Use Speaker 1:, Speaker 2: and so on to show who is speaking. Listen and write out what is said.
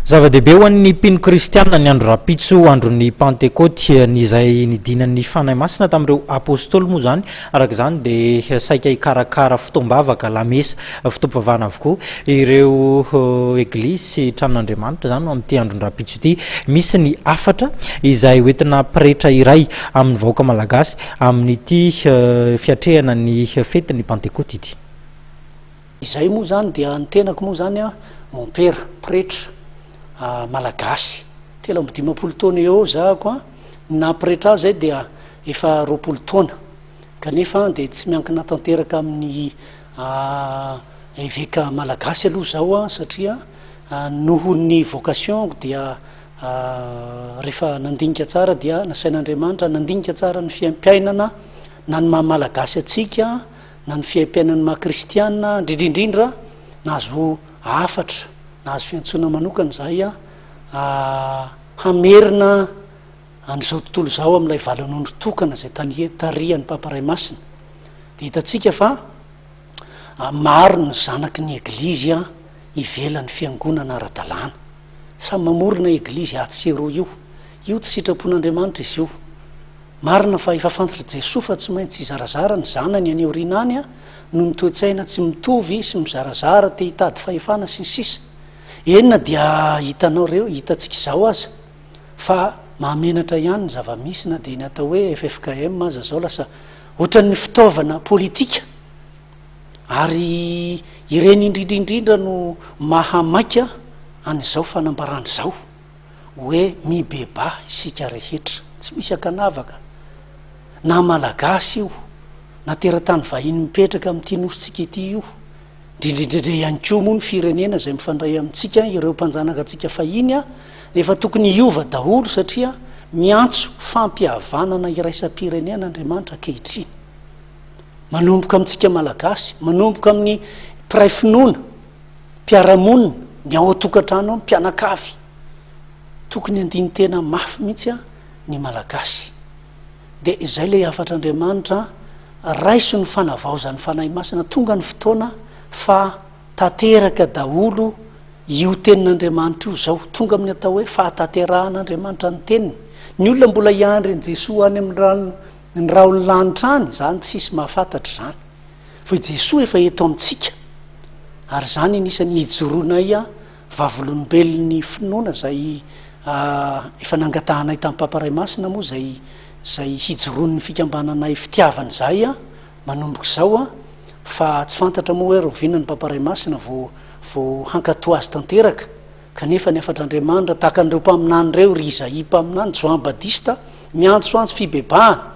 Speaker 1: Zava-dehibe ho an'ny mpino kristiana ny andro rahampitso, andron'ny Pantekoty, izay nidinan'ny Fanahy Masina tamin'ireo Apôstôly moa izany, araka izany dia saika hikarakara fotoam-bavaka, lamesa, fotoam-pivavahana avokoa ireo Eglizy sy tranon'Andriamanitra izany amin'ity andron-drahampitso ity. Misy ny hafatra izay ho entina pretra iray amin'ny vahoaka malagasy amin'ity fiatrehana ny fetin'ny Pantekoty ity.
Speaker 2: Izay moa izany dia ny tenako moa izany an, mompera, pretra, malagasy, telo amby dimampolo taona eo eo za ako an, ny naha pretra ahy izay dia efa roapolo taona, kanefa an dia tsy miankina tanteraka amin'ny eveka malagasy aloha zaho an, satria noho ny vocation-ko dia rehefa nandinika tsara dia nasain'Andriamanitra nandinika tsara ny fiaim-piainana na ny maha malagasy antsika, na ny fiaimpiainan'ny maha kristiana indrindrindrindra nahazo hafatra nahazo fiantsoana manokana izahay a ah, hamerina an'izao tontolo izao amin'ilay valan'ondry tokana izay tarihan'ny papa ray masina dia hitantsika fa ah, maro ny zanaky ny eglizy a ivelan'ny fiangonana ara-dalàna samy mamorona eglizy atsy sy eroa io io tsy sitrapon'andriamanitra izy io Marina fa efa fantatr'i Jesoa fa tsy maintsy hizarazara ny zanany any aoriana any noho ny toe-tsaina tsy mitovy sy mizarazara, te hitady fahefana sy ny sisa Eny na dia hitanao ireo, hitantsika izao aza fa mahamenatra ihany ny zava-misy na dia ny atao hoe ffkm aza izao lasa ohatran'ny fitaovana politika ary ireny indrindra indrindra no maha maika an'izao fanambarana izao. hoe mibebaha isika rehetra, tsy misy ankanavaka, na Malagasy io, na teratany vahiny mipetraka amin'ity nosintsika ity io, indrindrindrindra ihany koa moa ny firenena izay mifandray amintsika, ireo mpanjanaka antsika fahiny, nefa tokony hiova daholo satria miantso fampihavanana iraisam-pirenena Andriamanitra ankehitriny. Manomboka amintsika Malagasy, manomboka amin'ny mpiray finoana, mpiara-monina, ny ao an-tokantrano ao, ny mpianakavy. Tokony handini-tena mafy mihitsy ny Malagasy. Dia izay ilay hafatr'Andriamanitra, raiso ny fanavaozan'ny Fanahy Masina, tonga ny fotoana fa tanteraka daholo io tenin'Andriamanitra io izao, tonga amin'ny atao hoe fahatanterahan'Andriamanitra ny teniny. Ny olona mbola hiandry an'i Jesoa any amin'ny rahon'ny lanitra any, izany tsisy mahafantatra izany. Fa i Jesoa efa eto amintsika, ary izany anisan'ny hijoroanay vavolombelon'ny finoana izay efa nangatahanay tamin'ny Papa Ray Masina moa izay izay hijoroan'ny fikambananay fitiavana izay manomboka izao fa tsy fantatra moa hoe rahoviana ny Papa Ray Masina vao vao hankatoa azy tanteraka kanefa ny hafatr'Andriamanitra tahaka an'ireo mpaminany ireo ry Izaia mpaminany, Joan Badista miantsoantso fibebahana.